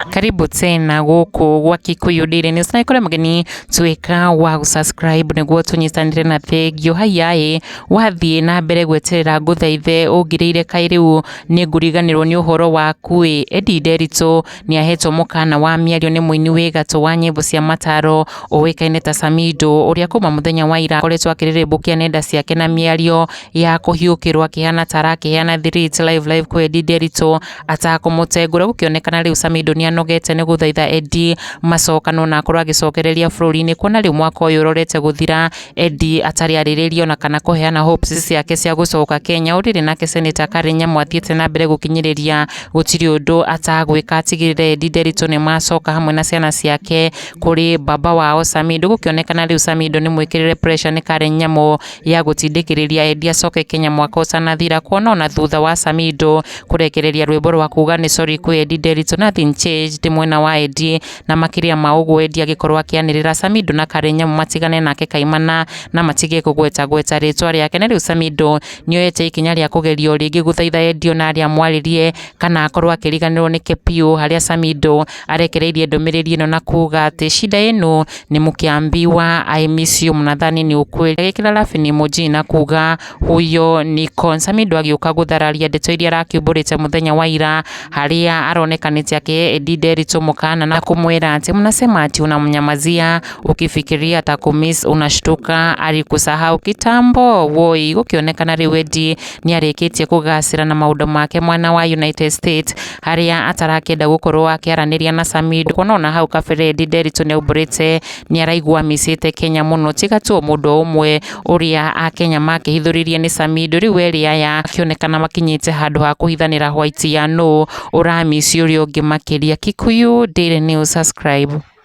karibu tena gũkũ gwa Kikuyu Daily News na ikore mgeni tuweka wa gusubscribe niguo tunyitanire na thengio haiyaĩ wathiĩ na mbere gweterera ngũthaithe ũngirĩire kaĩ rĩu nĩ ngũriganĩrwo nĩ ũhoro waku ĩ Eddie Nderitu nĩahetwo mũkana wa mĩario nĩ mũini wĩ gatũ wa nyĩmbo cia mataro ũĩkaine ta Samido ũrĩa kuma mũthenya wa ira akoretwo akĩrĩrĩmbũkia nenda ciake na mĩario ya kũhiũkĩrwo akĩhana ta arakĩheana thiriti live live kwĩ Eddie Nderitũ atakũmũtengũra gũkĩonekana rĩu Samido nĩanogete nĩ gũthaitha Eddie macokano na akorwo agĩcokereria bũrũri-inĩ kuona rĩu mwaka ũyũ ũrorete gũthira Eddie atarĩ arĩrĩria ona kana kũheana hopes ciake cia gũcoka Kenya ũrĩrĩ nake Senator Karen Nyamu athiĩte na mbere gũkinyĩrĩria gũtirĩ ũndũ atagwĩka atigĩrĩre Eddie Nderitu nĩ macoka hamwe na ciana ciake kũrĩ baba wao Samido gũkĩonekana rĩu Samido nĩ mwĩkĩrĩre pressure nĩ Karen Nyamu ya gũtindĩkĩrĩria Eddie acoke Kenya mwaka ũtanathira kuona ona thutha wa Samido kũrekereria rwĩmbo rwa kuga nĩ sorry kwĩ Eddie Nderitu nothing changed mwena wa Eddie Na makĩria ma ũguo wendi angĩkorwo akĩanĩrĩra Samido na Karenyamu matigane nake kaimana na matige kũgweta gweta rĩtwa rĩake. Na rĩu Samido nĩoyete ikinya rĩa kũgeria o rĩngĩ gũthaitha Edio na arĩa amwarĩrie kana akorwo akĩriganĩrwo nĩke piũ harĩa Samido arekereirie ndũmĩrĩri ĩno na kuga atĩ Shida yenu ni mkiambiwa I miss you mnadhani ni ukweli agĩkĩra laughing emoji na kuga Huyo Nikon Samido agĩũka gũthararia ndeto iria arakiumbũrĩte mũthenya wa ira harĩa aronekanĩte akĩdinde Nderitu mũkana na kũmwĩra atĩ mnasema ati unamnyamazia ukifikiria atakumiss unashtuka alikusahau kitambo woi gũkĩonekana rĩu Eddie nĩ arĩkĩtie kũgacĩra na maũndũ make mwana wa United States harĩa atarakĩenda gũkorwo akĩaranĩria na Samido kuona ona hau kabere Eddie Nderitu nĩ aumbũrĩte nĩ araigua amicĩte Kenya mũno tiga tu o mũndũ o ũmwe ũrĩa Akenya makĩhithũrĩria nĩ Samido, rĩu erĩ aya makĩonekana makinyĩte handũ ha kũhithanĩra hwaiti ya nũ ũrami ciũria ũngĩ makĩria. Kikuyu Daily News, subscribe.